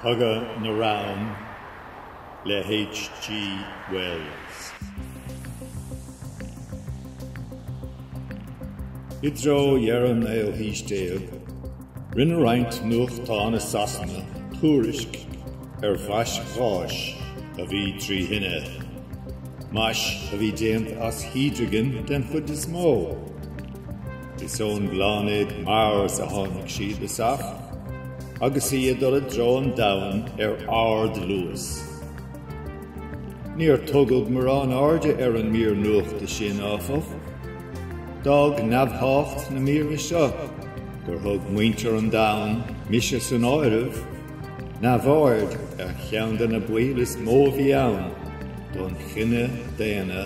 Cogadh na Reann le H.G. Wells. I dtreo dheireadh an naoú haois déag, rinne roinnt nuachtáin i Sasana tuairisc ar mhais gháis a bhí trí thine, mais a bhí déanta as hídrigin den chuid is mó. Is ón bpláinéad Mars a tháinig siad, is ea, agus í ag dul i dtreo an Domhain ar ardluas. Níor tugadh mórán airde ar an mír nuachta sin, áfach. D'fhág neamhthábhacht na míre seo gur thug muintir an Domhain, mise san áireamh, neamhaird ar cheann de na baoil is mó a bhí ann don chine daonna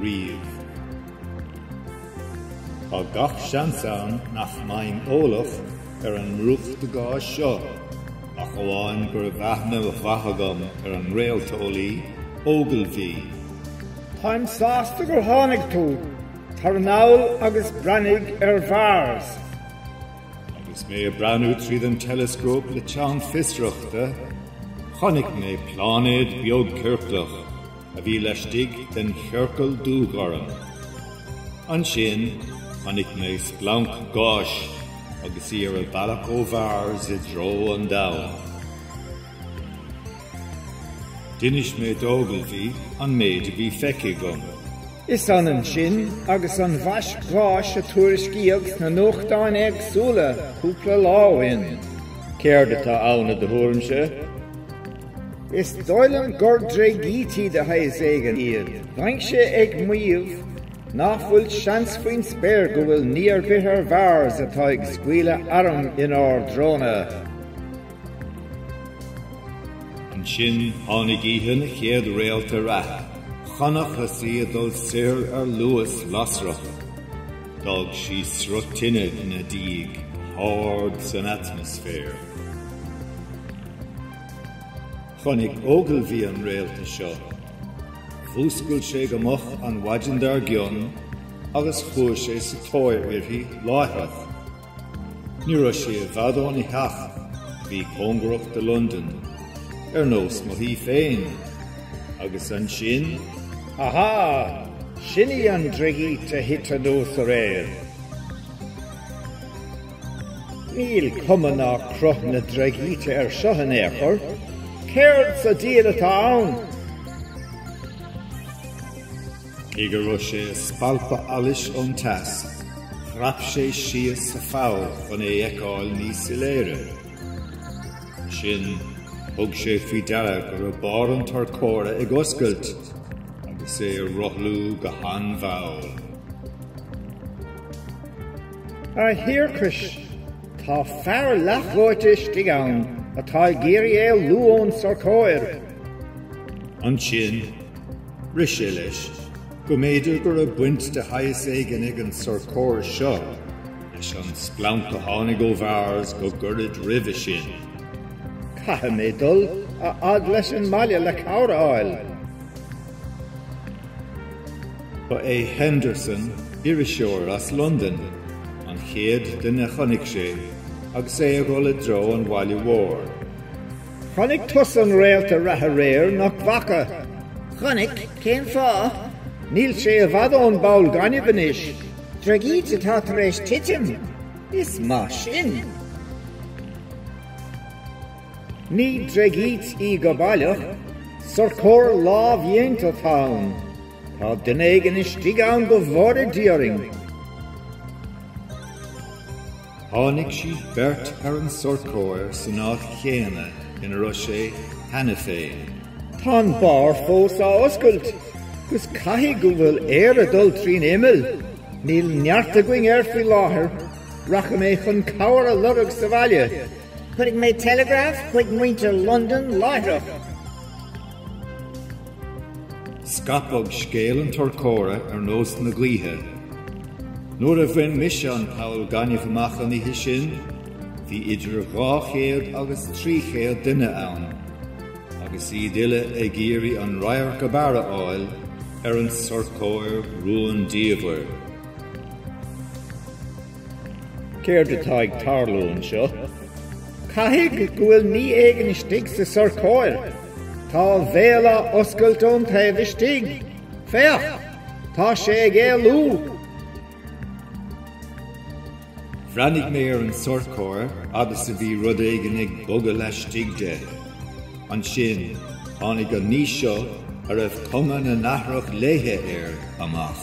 riamh. Tá gach seans ann nach mbeinn eolach ar an mbrúchtadh gáis seo ach amháin go raibh aithne mhaith agam ar an réalteolaí Ogilvy. Táim sásta gur tháinig tú, tar anall agus breathnaigh ar Mhars. Agus mé ag breathnú tríd an teileascóp le teann fiosrachta, chonaic mé pláinéad beag ciorclach a bhí laistigh den chiorcal dúghorm. Ansin, chonaic mé splanc gáis agus í ar a bhealach ó Mhars i dtreo an Domhain. D'inis mé d'Ogilvy an méid a bhí feicthe agam. Is ionann sin agus an mhais gháis a tuairiscíodh sna nuachtáin éagsúla cúpla lá ó shin. Céard atá ann i do thuairimse? Is dóigh liom gur dreigítí de shaghas éigin iad. Bheinnse ag maíomh nach bhfuil seans faoin spéir go bhfuil ní ar bith ar Mhars atá ag scaoileadh arm inár dtreona. Ansin tháinig oíche na chéad réalta reatha. Chonacthas í ag dul soir ar luas lasrach. D'fhág sí sruth tine ina diaidh, ard san atmaisféar. Chonaic Ogilvy an réalta seo. Mhúscail sé go moch an mhaidin dár gcionn agus chuaigh sé sa tóir uirthi láithreach. Ní raibh sé i bhfad óna theach a bhí cóngarach do Londain, ar nós mo thí féin, agus ansin, Aha! Sin í an dreigít a thit anuas aréir. Níl cuma ná cruth na dreigíte air seo in aon chor, céard sa diabhal atá ann? Cé go raibh sé ag spalpadh allais ón teas, chrap sé síos sa pholl chun é fheiceáil níos soiléire. Ansin, thug sé faoi deara go raibh barr an tsorcóra ag oscailt agus é ag rothlú go han-mhall. A thiarcais, tá fear leathdhóite istigh ann atá ag iarraidh éalú ón sorcóir. Ansin, Rith sé leis go mb'fhéidir go raibh baint de shaghas éigin ag an sorcóir seo leis an splanc a tháinig ó Mhars go gairid roimhe sin. Caithfidh mé dul a fhad leis an mbaile le cabhair a fháil. Ba é Henderson, iriseoir as Londain, an chéad duine a chonaic sé agus é ag dul i dtreo an bhaile mhóir. Chonaic tusa an réalta reatha aréir, nach bhfaca? Chonaic, cén fáth? Níl sé i bhfad ón bpoll gainimh anois. Dreigít atá tar éis titim? Is maith sin. Ní dreigít í go baileach, sorcóir lámhdhéanta atá ann. Tá duine éigin istigh ann go bhfóire Dia orainn. Tháinig siad beirt ar an sorcóir san áit chéanna ina raibh sé cheana féin. Tá an barr fós á oscailt, 'gus caithfidh go bhfuil aer ag dul trín imeall. Níl neart againn air faoi láthair. Rachaidh mé chun cabhair a lorg sa bhaile. Chuirfidh mé teileagraf chuig muintir Londan láithreach. Scaipeadh scéal an tsorcóra ar nós na gaoithe. Nuair a bhain mise an poll gainimh amach an oíche sin, bhí idir dhá chéad agus trí chéad duine ann, agus iad uile ag iarraidh an radharc ab fhearr a fháil ar an sorcóir rúndiamhair. Céard atá ag tarlú anseo? Caithfidh go bhfuil ní éigin istigh sa sorcóir. Tá a bhéal á oscailt ón taobh istigh. Féach! Tá sé ag éalú! Bhreathnaigh mé ar an sorcóir agus bhí rud éigin ag bogadh laistigh de. Ansin, tháinig an ní seo a raibh cuma nathrach léithe air amach.